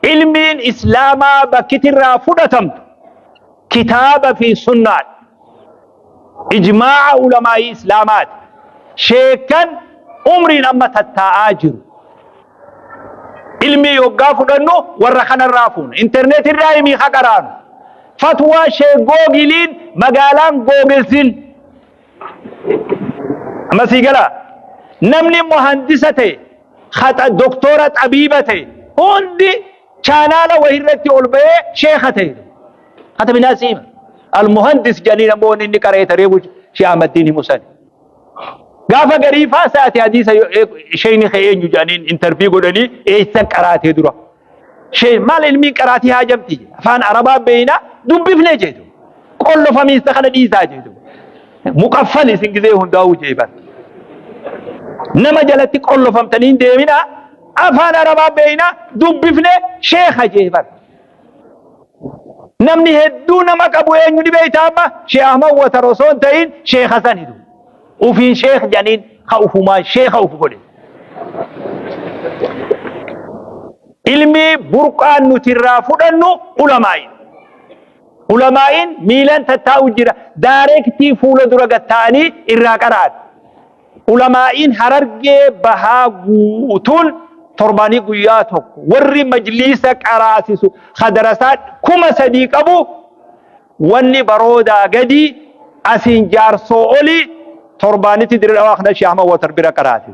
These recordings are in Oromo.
Ilmiin Islaamaa bakkiti irraa fudhatamtu kitaaba fi sunnaadha. Ijmaa'a ulamaa'ii Islaamaati. Sheekkan umriin amma tattaa'aa jiru. Ilmii yoggaa fudhannu warra kanarraa fuuna. Interneet irraa himii haqaraanu. Fatwaa Sheek Googiliin magaalaan Googilsin. Amma sii galaa? Namni muhandisa ta'e, haxa doktora xabiiba ta'e hundi chaanaala wahirratti ol ba'ee sheeka ta'e. Hata minaa siima. Almuhandis jedhanii namoonni inni qara'ee taree bulchu Shee Ahmaddiin himu sani. Gaafa garii faasaati hadiisa sheeyni kee eenyu jedhaniin intarvii godhanii eessan qaraatee dura. Shee maal ilmiin qaraatii haajamti jedhe. Afaan Arabaa beeyna dubbifne jedhu. Qollo famiista kana dhiisaa jedhu. Muqaffal isin gizee hundaa'uu jee bar. Nama jalatti qollofamtanii hin deemina afaan Arabaa beeyna dubbifne sheekha jee bar. Namni hedduu nama qabu eenyu ni beeyta amma Shee Ahmad Watar osoo hin ta'iin Sheekh Hasan Hidu. Ufiin sheekh jedhaniin ka ufumaan sheekha uf godhe. Ilmi burqaan nuti irraa fudhannu ulamaa'i. Ulamaa'iin miilan tattaa'u jira. Daareektii fuula dura gatta'anii irraa qara'an. Ulamaa'iin harargee bahaa guutuun torbaanii guyyaa tokko warri majliisa qaraasisu hadarasaa kuma sadii qabu Wanni baroodaa gadii asiin jaarsoo oli torbaanitti dirre dhawaa kana shaahma watar bira qaraati.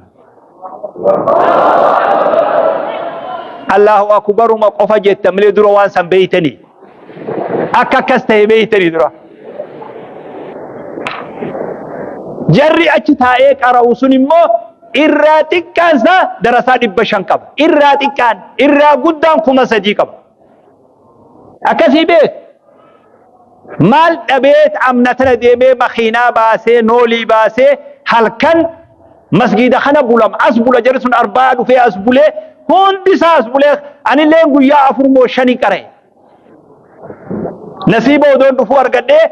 Allahu akubaruma qofa jetta malee dura waan san beeytanii. Akka akkas ta'e beeytanii dura. Jarri achi taa'ee qara'u sun immoo irraa xiqqaan isaa darasaa dhibba shan qaba. Irraa xiqqaan, irraa guddaan kuma sadii qaba. Akkasii beeku. Maal dhabeet amna tana deemee makiinaa baasee noolii baasee halkan masgiida kana bulam as bula jarri sun arbaa dhufee as bulee hundi isaa as bulee anilleen guyyaa afur moo shani qara'e. Nasiiba odoon dhufuu argadhee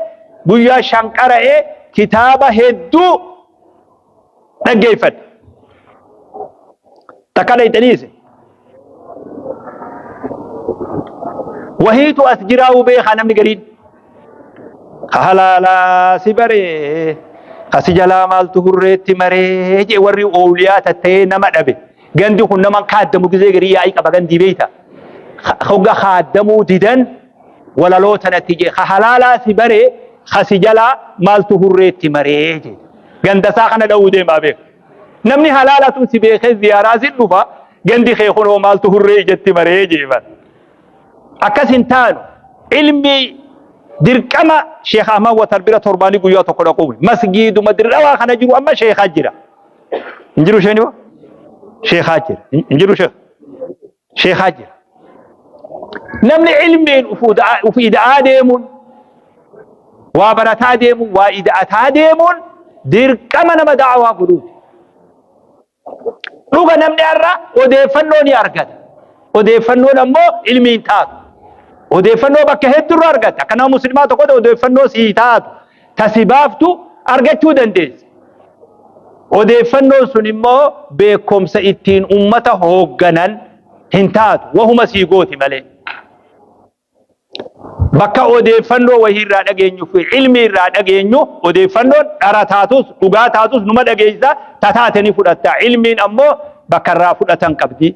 guyyaa shan qara'ee kitaaba hedduu dhaggeeffadhe. Takka dhayxaniise. Wahiitu as jiraa'uu beekaa namni gariin. Halaalaa si baree asi jalaa maaltu hurreetti maree jee warri oowliyaa tattee nama dhabe. Gandi kun nama kaaddamu gizee garii yaa'ii qaba gandii beeyta. Hogga kaaddamuu didan. walaloo tanatti jee ka halaalaa si baree ka si jalaa maaltu hurreetti maree jee gandasaa kana dha'uu deemaa beeka namni halaalatu si beekee ziyaaraa si dhufa gandi kee kunoo maaltu hurree ijatti maree jeefan akkas hin taanu ilmi dirqama sheekh ahmad watar bira torbaanii guyyaa tokko dhaquun masgiiduma dirqamaa kana jiru amma sheekaa jira hin jiru sheeni sheekaa jira hin jiru sheek sheekaa jira. Namni ilmiin uf ida'aa deemuun waa barataa deemuun waa ida'ataa deemuun dirqama nama da'awaa godhuuti. Dhuga namni har'a odeeffannoo ni argata. Odeeffannoon ammoo ilmiin taatu. Odeeffannoo bakka hedduurra argatta. Akka nama muslimaa tokkotti odeeffannoo sii taatu. ta si baaftu argachuu dandeessa. Odeeffannoon sun immoo beekomsa ittiin ummata hoogganan hin taatu, wahuma sii gooti malee. Bakka odeeffannoo wahii irraa dhageenyu fi ilmii irraa dhageenyu odeeffannoon dhara taatus dhugaa taatus numa dhageessa ta taate ni fudhatta. Ilmiin ammoo bakka irraa fudhatan qabdi.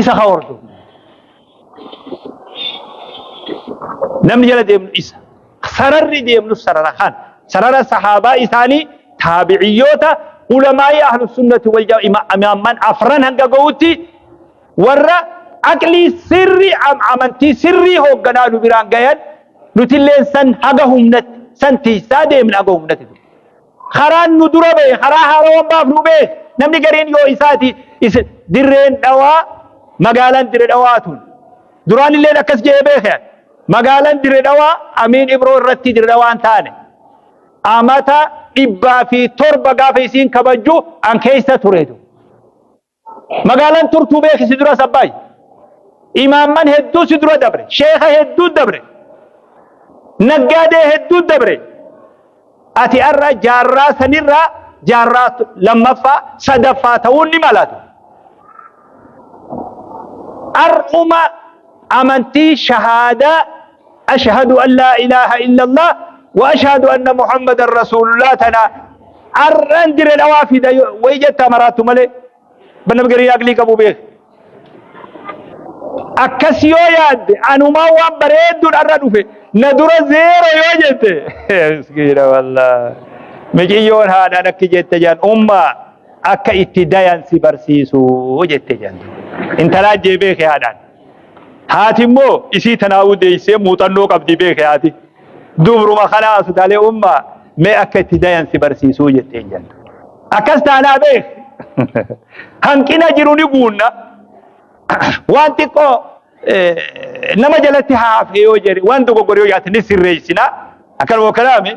isa haa hordofu. Namni jala deemnu isa. Sararri deemnus sarara kan. Sarara sahaabaa isaanii taabiciyyoota ulamaa'ii ahlu sunnati wal imaamman afran hanga ga'utti warra aqlii sirri amantii sirrii hoogganaa nu biraan gayan nutilleen san haga humnatti san tiisaa deemna haga humnatti. Karaan nu dura ba'e karaa haarawan baafnu bee namni gariin yoo isaati isa dirreen dhawaa magaalaan dire dhawaa tun duraan illeen akkas je'ee beeke magaalaan dire dhawaa amiin ibroo irratti dire dhawaan taane amata dhibbaa fi torba gaafa isiin kabajju an keessa tureetu. Magaalaan turtuu beeki si duras Abbaay. Imaamman hedduu si dura dabre. Sheeka hedduu dabre. Naggaadee hedduu dabre. Ati har'a jaarraa sanirraa jaarraa lammaffaa sadaffaa ta'uun ni malatu. Har'uma amantii shahaadaa Ashhadu an laa ilaaha illallah wa ashhadu anna Muhammadan Rasuulullah tana ar'an dire dhawaa fida wayi jettaa maraattu malee banam garii aqlii qabu beek. Akkas yoo yaadde anumaa waan bareedduun arra dhufe na dura zeero yoo jette miskiina wallah miciyyoon haadhaan akki jette jaan umma akka itti dayan si barsiisu jette jaan intalaa jee beeke haadhaan. Haati immoo isii tanaa'uu deessee muuxannoo qabdi beeke haati. Dubruma kanaa asutaalee ummaa mee akka itti dayan si barsiisuu jetteen jenna. Akkas taanaa beek hanqina jiru ni guunna. Waan xiqqoo nama jalatti haafee yoo jedhe waan dogoggore yoo yaate ni sirreessina. Akkanuma kanaami.